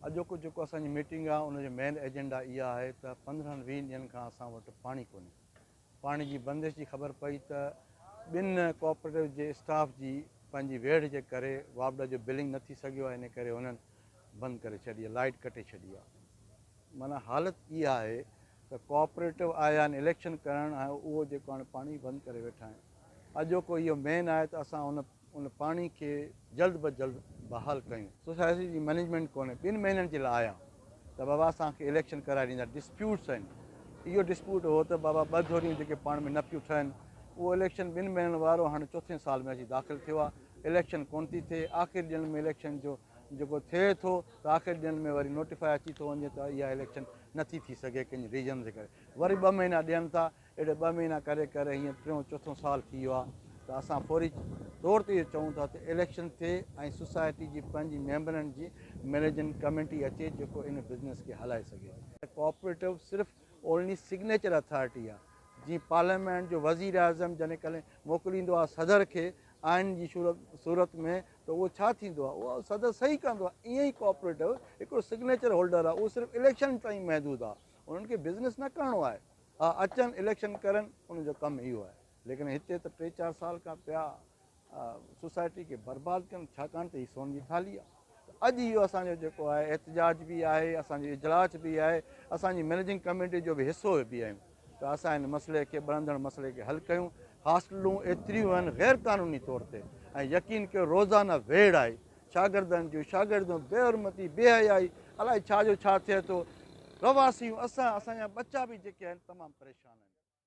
اڄوڪو جيڪو اسان جي ميٽنگ آهي ان جو مين ايجنڊا اها آهي ته پندرهن ويهه ڏينهن کان اسان وٽ پاڻي ڪونهي پاڻي جي بندش جي خبر پئي ته ٻن ڪوآپريٽوز جي اسٽاف جي پنهنجي ويڙهه جي ڪري واپڊا جو بلنگ نه ٿي سگهيو آهي ان ڪري هنن بند ڪري ڇڏي لائيٽ ڪٽي ڇڏي آهي معنيٰ حالت اها آهي ته ڪوآپريٽو آيا آهن اليڪشن ڪرڻ ۽ اهو جيڪو هاڻي پاڻي بند ڪري ويٺا آهن اڄوڪو اهو مين آهي ته اسان هن ان پاڻي کي جلد به جلد بحال ڪيون. سوسائٽي جي مئنيجمينٽ ڪونهي ٻن مهينن جي لاء آيا ته بابا اسان کي اليڪشن ڪرائي ڏيندا ڊسپيوٽس آهن اهو ڊسپيوٽ هو ته بابا ٻه ڌريون جيڪي پاڻ ۾ نه پيون ٺهن اهو اليڪشن ٻن مهينن وارو هاڻي چوٿين سال ۾ اچي داخل ٿيو آهي اليڪشن ڪونه ٿي ٿئي آخري ڏينهن ۾ اليڪشن جو جيڪو ٿئي ٿو ته آخري ڏينهن ۾ وري نوٽيفائي اچي ٿو وڃي ته اها اليڪشن نٿي ٿي سگهي ڪن ريزنز جي ڪري وري ٻه مهينا ڏين ٿا اهڙي ٻه مهينا ڪري ڪري هينئر ٽيون چوٿون سال ٿي ويو آهي ته اسان فوري طور تي اهو چئون ٿا ته اليڪشن ٿئي ۽ سوسائٽي جي پنهنجي ميمبرن جي مئنيجنگ ڪميٽي اچي جيڪو ان بزنس کي هلائي سگهي. ڪوآپريٽو صرف اونلي سگنيچر اٿارٽي آهي جيئن پارليامينٽ جو وزيراعظم جڏهن ڪڏهن موڪليندو آهي صدر کي آئين جي صورت ۾ ته اهو ڇا ٿيندو آهي اهو صدر صحيح ڪندو آهي ائين ئي ڪوآپريٽو هڪڙو سگنيچر هولڊر آهي اهو صرف اليڪشن تائين محدود آهي انهن کي بزنس نه ڪرڻو آهي ها اچن اليڪشن ڪرن انهن جو ڪم اهو آهي ليڪن هتي ته ٽي چار سال کان پيا سوسائٽي کي برباد ڪن ڇاڪاڻ ته هي سون جي ٿالهي آهي ته اڄ اهو اسان جو جيڪو آهي احتجاج به آهي اسان جو اجلاس به آهي اسان جي مئنيجنگ ڪميٽي جو به حصو به آهيون ته اسان هن مسئلي کي ٻرندڙ مسئلي کي حل ڪيون هاسٽلون ايتريون آهن غير قانوني طور تي ۽ يقين ڪيو روزانه ويڙ آهي شاگردن جون شاگرديون بي حرمتي بي حيائي الائي ڇا جو ڇا ٿئي ٿو رهواسيون اسان اسان جا ٻچا به جيڪي آهن تمام پريشان آهن